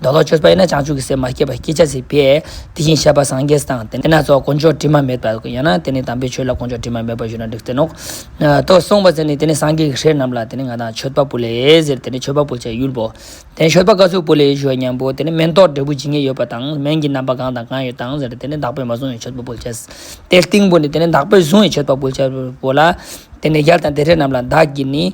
མདོ་ལོག་ཆོས་པ་ཡིན་ན་བྱང་ཆུབ་ཀྱི་སེམས་མ་སྐྱེས་པར་སྐྱེ་བྱ་ཚིག་པས་དེ་བཞིན་གཤེགས་པ་སངས་རྒྱས་དང་དེ་ན་རྩ་བ་དཀོན་མཆོག་དྲི་མ་མེད་པ་ཡང་ན་དེ་ནི་དམ་པའི་ཆོས་ལ་དཀོན་མཆོག་དྲི་མ་མེད་པར་ཞུ་ན་འགྲིག་ཟེར་ནོ། དོ། གསུངས་པ་ཟེར་ནས་དེ་ནི་སངས་རྒྱས་ཀྱི་ཞལ་རྣམས་ལ་དེ་ནི་ང་དང་མཆོད་པ་པོ་ལས་ཟེར་དེ་ནི་མཆོད་པ་པོ་བྱའི་ཡུལ་བོ། དེ་ནི་མཆོད་པ་ཀ་ཚུགས་པོ་ལས་ཞུ་བ་སྙམ་པོ་དེ་ནི་སྨན་ཏོག་འབྲས་བུ་ཇི་སྙེད་ཡོད་པ་དང་སྨན་གྱི་རྣམ་པ་གང་དང་གང་ཡོད་དང་ཟེར་དེ་ནི་བདག་པོས་མ་བཟུང་བའི་མཆོད་པ་པོ་བྱ། དེའི་སྟེང་བུ་ནི་དེ་ནི་བདག་པོས་བཟུང་བའི་མཆོད་པ་པོ་བྱ། བོ་ལ། དེ་ནས་ཡར་དང་དེ་རས་རྣམས་ལ་བདག་གིས་ནི།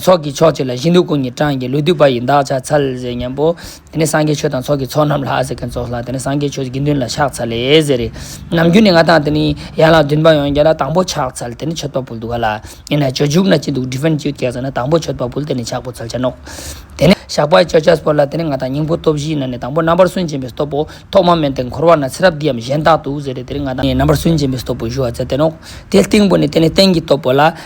ཚོགས་ཀྱི་མཆོག་ཅིག་ལ་གཞི་འདུག་སྐུ་ཉིད་བགྲང་གིས་ལུས་དུས་པ་ཡི་འདག་ཆ་ཚ་ལེ་ཟེར་སྙམ་པོ། དེ་ནས་སངས་རྒྱས་ཆོས་དང་ཚོགས་ཀྱི་ཚོགས་རྣམས་ལྷ་ཟེར་མཁན་ཚོགས་ལྷ་དེ་ནས་སངས་རྒྱས་ཆོས་དགེ་འདུན་ལ་ཕྱག་འཚལ་ལེ་ཟེར། ནམ་རྒྱུན་ནི་ང་དང་དེ་ནི་ཡན་ལག་བདུན་པ་ཡང་རྒྱ་ལ་དང་པོ་ཕྱག་འཚལ་དེ་ནས་མཆོད་པ་འབུལ་དུ་ག་ལ་ཡིན་ན་ཇོ་ཇུག་ན་ཅི་འདུག Different Cute སྐད་ཟེར་ན་དང་པོ་མཆོད་པ་འབུལ་དེ་ནས་ཕྱག་འབུལ་ཚལ་ཆ་སྣོག། དེ་ནས་ཞགས་པ་བཅད་ཆ་སྤོ་ལ་དེ་ནས་ང་དང་སྙིང་པོ་སྟོབས་བཞིའི་ནང་ནས་དང་པོ་རྣམ་པར་སུན་འབྱིན་པའི་སྟོབས་པོ་ཐོག་མ་མན་དེ་འཁོར་བ་ན་ཚེ་རབས་འདིའམ་གཞན་དག་ཏུ་ཟེར་ཏེ་དེ་ནས་ང་དང་རྣམ་པར་སུན་འབྱིན་པའི་སྟོབས་པོ་བཞུ་བ་ཚལ་དེ་སྣོག། དེ་སྟེང་པོ་ནས་དེ་ནས་སྟེང་གི་སྟོབས་པོ་ལ།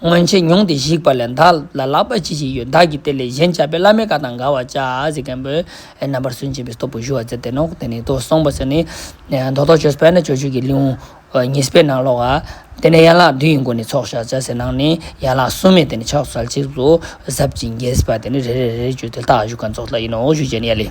སྔོན་ཆད་མྱོང་སྟེ་བཤིག་པ་ལས་བདག་ལ་ལག་པ་ཅི་ཞིག་ཡོད་བདག་གིས་དེ་ལས་གཞན་བྱ་བའི་བླ་མའི་བཀའ་དང་འགལ་བར་བྱ། ཟེར་མཁན་པོས་རྣམ་པར་སུན་འབྱིན་པའི་སྟོབས་པོ་ཞུ་བར་མཛད་དེ་ནོ། དེ་ནས་ཐོས་བསམ་པ་ཟེར་ནི། མདོ་ཐོག་ཆོས་སྤེལ་ན་ཆོས་སྤྱོད་ཀྱི་ལེའུ་ཉི་སྤེལ་ནང་ཀློག། དེ་ནས་ཡན་ལག་བདུན་ཡི་སྒོ་ནས་ཚོགས་བཤགས་བྱ་ཟེར་ནང་ནས་ཡན་ལག་གསུམ་མེད་དེ་ནས་ཕྱག་བསལ་ཆིག་བཟོ། ཟབ་ཅིང་རྒྱས་ཟེར་བ་དེ་ནི་རེ་རེ་རེ་རེ་བརྗོད་དེ་ལྷག་བཞུགས་ཀྱང་རྫོགས་ལྟ་ཡིན་ནོ་ཞུ་བྱས་ནས་ཡལ།